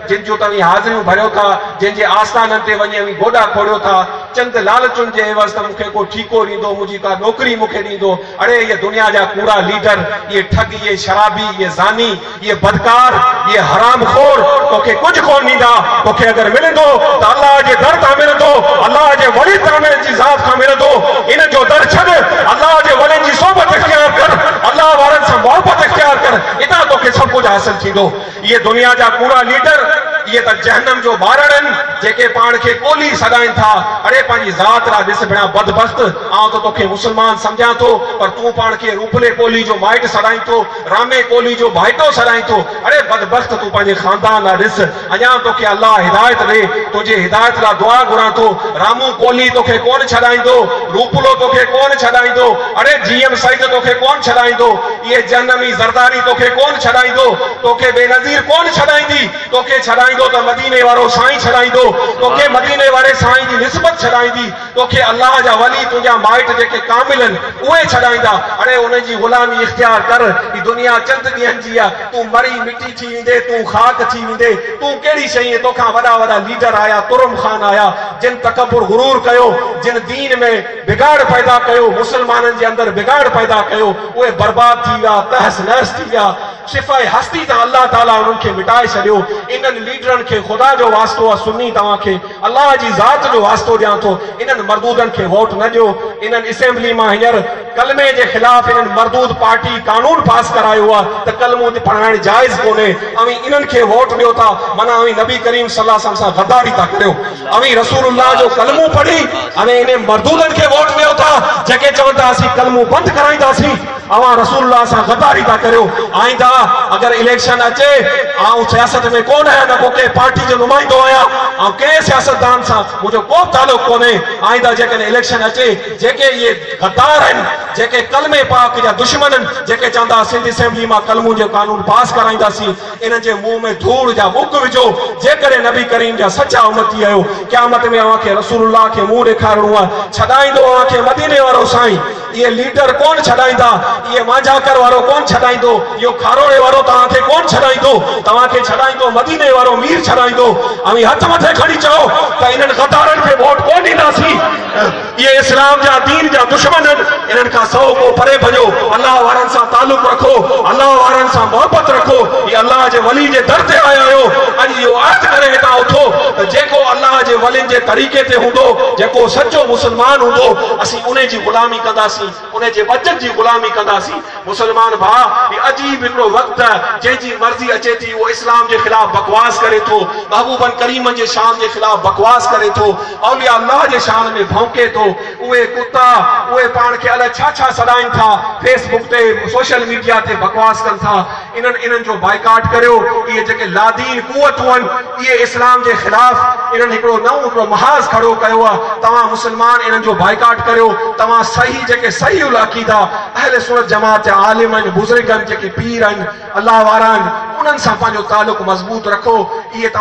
جن جون توهين حاضريون ڀريو ٿا، جن جي آستانن تي وڃي اوهين گوڏا کوڙيو ٿا، چند لالچن جي عيوض ته مون کي ڪو ٺيڪو ڏيندو، منهنجي ڪا نوڪري مون کي ڏيندو، اڙي اهي دنيا جا ڪوڙا ليڊر، اهي ٺڳ، اهي شرابي، اهي زاني، اهي بدڪار، اهي حرام خور توکي ڪجهه ڪونه ڏيندا، توکي اگر ملندو ته الله جي در تان ملندو، الله جي ولي ڪامل جي ذات کان ملندو، انهن جو در ڇڏ، الله جي ولين جي صحبت اختيار ڪر، الله وارن سان محبت اختيار ڪر، اتان توکي سڀ ڪجهه حاصل ٿيندو. اهي دنيا جا ڪوڙا ليڊر اهي ته جهنم جو ٻارڙ آهن جيڪي پاڻ کي ڪولهي سڏائين ٿا اڙي پنهنجي ذات ڏانهن ڏس ڀيڻا بدبخت آئون ته توکي مسلمان سمجهان ٿو پر تون پاڻ کي روپلي ڪولهي جو مائٽ سڏائين ٿو رامي ڪولهي جو ڀائيٽو سڏائين ٿو اڙي بدبخت تون پنهنجي خاندان ڏانهن ڏس اڃان توکي الله هدايت ڏي تنهنجي هدايت لا دعا گهران ٿو رامو ڪولهي توکي ڪونه ڇڏائيندو روپلو توکي ڪونه ڇڏائيندو اڙي جي ايم سيد توکي ڪونه ڇڏائيندو اهي جهنم ئي زرداري توکي ڪونه ڇڏائيندو، توکي بينظير ڪونه ڇڏائيندي، توکي ڇڏائيندو ته مديني وارو سائين ڇڏائيندو، توکي مديني واري سائين جي نسبت ڇڏائيندي، توکي الله جا ولي تنهنجا مائٽ جيڪي ڪامل آهن اهي ڇڏائيندا، اڙي انهن جي غلامي اختيار ڪر، هي دنيا چند ڏينهن جي آهي، تون مري مٽي ٿي ويندين، تون خاڪ ٿي ويندين، تون ڪهڙي شيء آهين، توکان وڏا وڏا ليڊر آيا، ترم خان آيا، جن تڪبر غرور ڪيو، جن دين ۾. بگاڙ پيدا ڪيو، مسلمانن جي اندر بگاڙ پيدا ڪيو، اهي برباد ٿي ويا، تحس نحس ٿي ويا، صفاء هستي تان الله تعاليٰ انهن کي مٽائي ڇڏيو، انهن ليڊرن کي خدا جو واسطو آ سني توهان کي الله جي ذات جو واسطو ڏيان ٿو انهن مردودن کي ووٽ نه ڏيو انهن اسيمبلي مان هينئر ڪلمي جي خلاف انهن مردود پارٽي قانون پاس ڪرايو آ ته ڪلمو پڙهائڻ جائز ڪونهي اوهين انهن کي ووٽ ڏيو ٿا معنيٰ اوهين نبي ڪريم صلي الله عليه وسلم سان غداري ٿا ڪريو. اوهين رسول الله جو ڪلمو پڙهي اوهين انهن مردودن کي ووٽ ڏيو ٿا جيڪي چون ٿا اسين ڪلمو بند ڪرائينداسين اوهان رسول الله سان غداري ٿا ڪريو آئنده اگر اليڪشن اچي آئون سياست ۾ ڪونه آهيان نه ڪو ڪنهن پارٽي جو نمائندو آهيان آئون ڪنهن سياستدان سان منهنجو ڪو به تعلق ڪونهي آئنده جيڪڏهن اليڪشن اچي جيڪي اهي غدار آهن جيڪي ڪلمي پاڪ جا دشمن آهن جيڪي چوندا سنڌ اسيمبلي مان ڪلمون جو قانون پاس ڪرائينداسين انهن جي منهن ۾ ڌوڙ جا مڪ وجهو، جيڪڏهن نبي ڪريم جا سچا امتي آهيو، قيامت ۾ اوهان کي رسول الله کي منهن ڏيکارڻو آهي، ڇڏائيندو اوهان کي مديني وارو سائين، اهي ليڊر ڪونه ڇڏائيندا، اهي مانجهاڪر وارو ڪونه ڇڏائيندو، اهو کاروڙي وارو توهان کي ڪونه ڇڏائيندو، توهان کي ڇڏائيندو مديني وارو مير ڇڏائيندو، اوهين هٿ مٿي کڻي چئو ته انهن غدارن کي ووٽ ڪونه ڏينداسين. اهي اسلام جا دين جا دشمن هن انهن کان سؤ ڪوهه پري ڀڄو الله وارن سان تعلق رکو الله وارن سان محبت رکو هي الله جي ولي جي در تي آيا آهيو اڄ اهو عهد ڪري هتان اٿو ته جيڪو الله جي ولين جي طريقي تي هوندو جيڪو سچو مسلمان هوندو اسين انهي جي غلامي ڪنداسين ان جي بچت جي غلامي ڪنداسين. مسلمان ڀاء هي عجيب هڪڙو وقت ته جنهن جي مرضي اچي ٿي اهو اسلام جي خلاف بڪواس ڪري ٿو، محبوبن ڪريمن جي شان جي خلاف بڪواس ڪري ٿو، اولياء الله جي شان ۾ ڀونڪي ٿو، اهي ڪتا اهي پاڻ کي الئه ڇا ڇا سڏائين ٿا، فيس بڪ تي سوشل ميڊيا تي بڪواس ڪن ٿا. انهن انهن جو بائيڪاٽ ڪريو. اهي جيڪي لادين قوتون آهن اهي اسلام جي خلاف انهن هڪڙو نئون هڪڙو محاذ کڙو ڪيو آهي. توهان مسلمان انهن جو بائيڪاٽ ڪريو. توهان صحيح جيڪي صحيح العقيده اهل سنت جماعت جا عالم آهن بزرگ آهن جيڪي پير آهن الله وارا آهن انهن سان پنهنجو تعلق مضبوط رکو. اهي توهان.